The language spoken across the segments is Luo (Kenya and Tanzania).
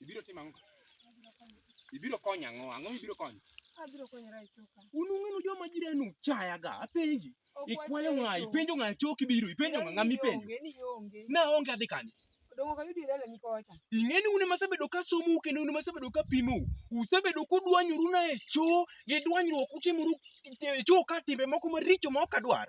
Ibiro timo ang'o? Ibiro konyo ang'o? Ang'o mibiro konyo? Abiro konyora e choka. Un ung'enu joma jirani uchayaga, apenji. Ok Ikwayo ng'a? wacheyo. Ipenjo ng'a chok ibiro? Ipenjo ng'a? Ng'a mipenjo? Ni ionge. Na onge adhi kanye? Odong'o ka yudi lele nikocha. ing'eni une masebedo ka somou kendo une masebedo ka pimou usebedo kudwanyoru na e choo gi dwanyruok utimoru e choo ka timbe moko maricho ma ok adwar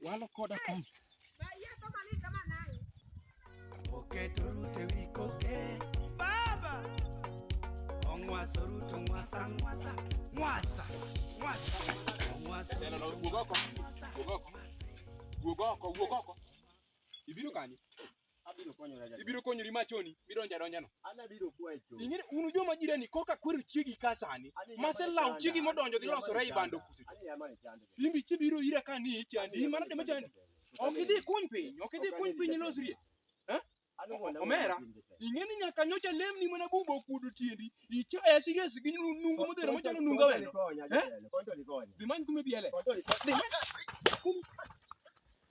walo koda kom. Oketo rute wi koke. Baba! Ongwaso ruto ngwasa ngwasa. Ngwasa! Ngwasa! Ongwaso ruto ngwasa ngwasa. Wuog oko, wuog oko. Ibiro kanye? Abiro konyora jadolo. Ibiro konyori machoni, midonjo adonja no. An abiro kwayo chon. Ing'e unu joma jirani koka kwero chiegi ka sani. An e jama Mase lawo chanda, chiegi an e modonjo dhi jama losore ei chanda, bando kucho. an e jama chanda. Imbi chi biro ira ka ni chandi, in mana dema chandi. Ok idhi kuny piny, ok idhi kuny piny ilosrie. An wuon awuon Omera. matin gi teko. Ing'e ni nyaka nyocha lemni mana bubo okuodo tiendi. Ichaya serious gi nu- nungo modhero machalo nungo Konto wendo. likonya, jatelo, konto likonya. Dhi many kume biele. Konto likonya. Dhi many